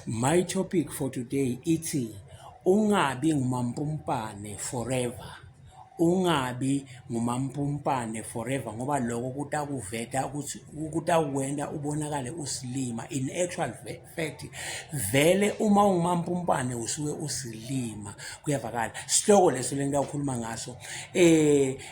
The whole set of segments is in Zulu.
My topic for today ithi ungabi ngumampumpane forever. Ungabi ngumampumpane forever ngoba lokho kutakuveta ukuthi kutakwenta ubonakale usilima. In actual fact vele uma ungumampumpane usuke usilima kuyavakala. Sihloko leso lengitawukhuluma ngaso. Eh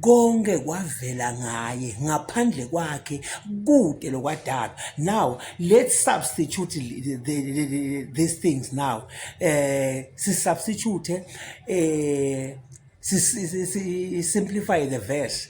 Konke kwavela ngaye ngaphandle kwakhe kude lokwadalwa now let's substitute the, the, the, these things now eh si substitute eh si, si, si, si simplify the verse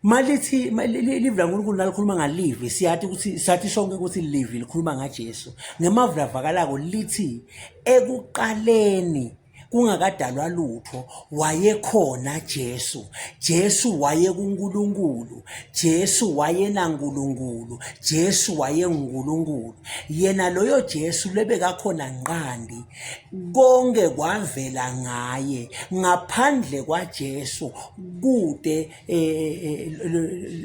malithi live laNkulunkulu nalikhuluma ngalivi siyathi ukuthi sathi sonke ukuthi livi likhuluma ngaJesu ngemavula vakalako lithi ekuqaleni kungakadalwa lutho wayekhona Jesu Jesu wayekuNkulunkulu Jesu wayenaNkulunkulu Jesu wayenguNkulunkulu yena loyo Jesu lebekakhona nqandi konke kwavela ngaye ngaphandle kwaJesu kude eh, eh, eh,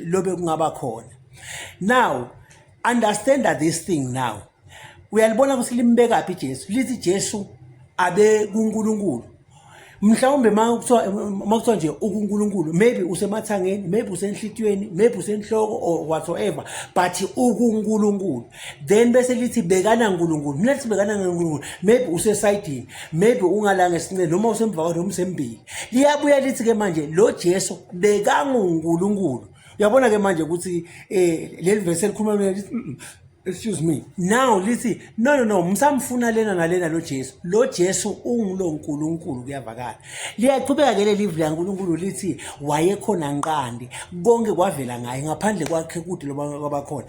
lobe kungaba khona now understand this thing now uyalibona ukuthi limbekaphi ijesu lithi ijesu abe kunkulunkulu mhlawumbe uma kuthiwa nje ukunkulunkulu maybe usemathangeni maybe usenhlitiyweni maybe usenhloko or whatsoever but ukunkulunkulu then bese lithi bekana nkulunkulu mina lithi bekana nkulunkulu maybe usesayidini maybe ungalanga esinqeni noma usemva kwakhe noma usembili liyabuya lithi-ke manje lo jesu bekangunkulunkulu uyabona-ke manje ukuthi um leli vesi elikhuluma lithi excuse me now lithi no no no msamfuna lena nalena lo Jesu lo Jesu ungulo nkulunkulu kuyavakala liyaqhubeka ke leli vula nkulunkulu lithi wayekhona nqandi konke kwavela ngaye ngaphandle kwakhe kude loba kwabakhona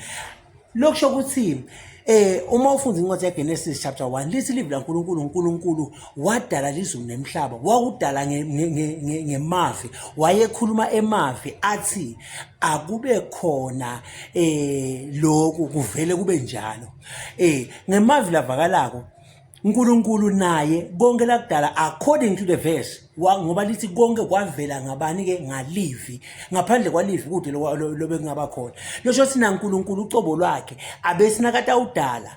lokusho ukuthi eh uma ufunda incwadi yaGenesis chapter 1 lithi livi laNkulunkulu uNkulunkulu wadala lizulu nemhlaba wakudala ngemavi wayekhuluma emavi athi akube khona eh lokhu kuvele kube njalo eh ngemavi lavakalako uNkulunkulu naye konke lakudala according to the verse ngoba lithi konke kwavela ngabani ke ngalivi ngaphandle kwalivi kude lobe kungaba khona losho sina uNkulunkulu ucobo lwakhe abesinakata udala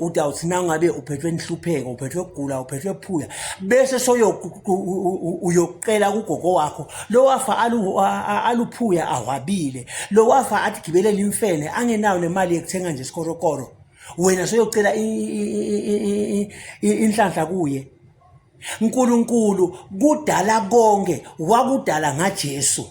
uthi awuthi nangabe uphethwe inhlupheko uphethwe kugula uphethwe phula bese soyokucela kugogo wakho lo wafa aluphuya ahwabile lo wafa athi gibelele imfene angenayo nemali yekuthenga nje isikorokoro wena soyocela inhlanhla kuye nkulunkulu kudala konke wakudala ngajesu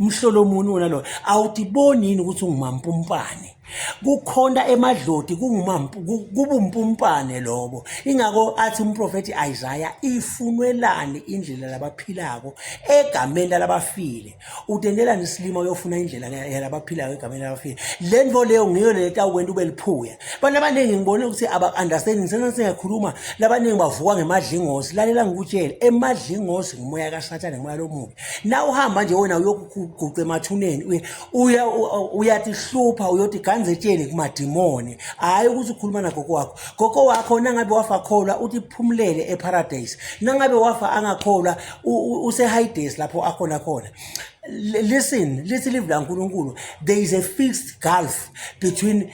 umhlolo muni wona loyo awudiboni yini ukuthi ungumampumpane kukhona emadlodi kubumpumpane lobo ingako athi umprofethi Isaiah ifunwelani indlela labaphilako egameni labafile utendelani isilima uyofuna indlela yalabaphilako egameni labafile le nto leyo ngiyo le tawukwenta ube liphuya abantu abaningi ngibone ukuthi aba-understanding sena singakhuluma labaningi bavuka ngemadlingosi lalela ngikutshele emadlingosi ngumoya kasathane ngumoya lomubi la uhamba nje wena uyokuguqa emathuneni uya uyatihlupha uyothi ganzetsheni kumadimoni hhayi ukuthi ukhuluma nagogo wakho gogo wakho nangabe wafa kholwa uthi phumulele eparadise nangabe wafa angakholwa usehides lapho akhona khona listen lithi livi lankulunkulu there is a fixed gulf between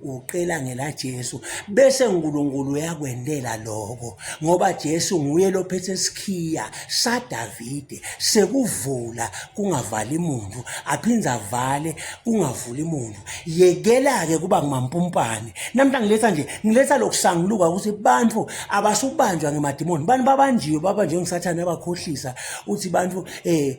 uqela ngelaJesu bese uNkulunkulu uyakwendela lokho ngoba Jesu nguye lophethe isikhiya saDavide sekuvula kungavali muntu aphinde avale kungavuli muntu yekela ke kuba ngumampumpane namhla ngiletha nje ngiletha lokusanguluka ukuthi abantu abasubanjwa ngemadimoni bani babanjiwe babanjwe ngisathane abakhohlisa uthi abantu eh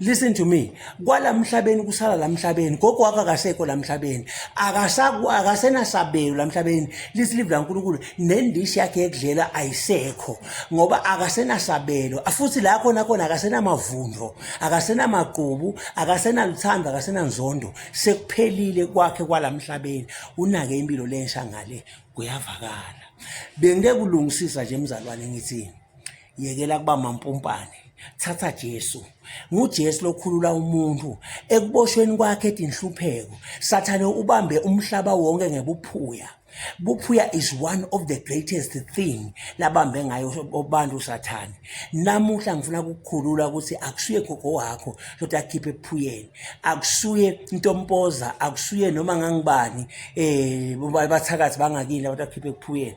listen to me kwala mhlabeni kusala la mhlabeni gogo wakho akasekho la mhlabeni akasenasabelo la mhlabeni lisilivu lankulunkulu nendishi yakhe yekudlela ayisekho ngoba akasenasabelo futhi la khona khona akasenamavundo akasenamaqubu akasenaluthando akasenanzondo sekuphelile kwakhe kwala mhlabeni unake impilo lensha ngale kuyavakala bengike kulungisisa nje mzalwane ngithini yekela kuba mampumpane thatha Jesu nguJesu lokhulula umuntu ekuboshweni kwakhe etinhlupheko sathane ubambe umhlaba wonke ngebuphuya buphuya is one of the greatest thing labambe ngayo abantu sathane namuhla ngifuna ukukhulula ukuthi akusuye gogo wakho lokuthi akhiphe ephuyeni akusuye intompoza akusuye noma ngangibani um bathakathi bangakini abantu akhiphe ephuyeni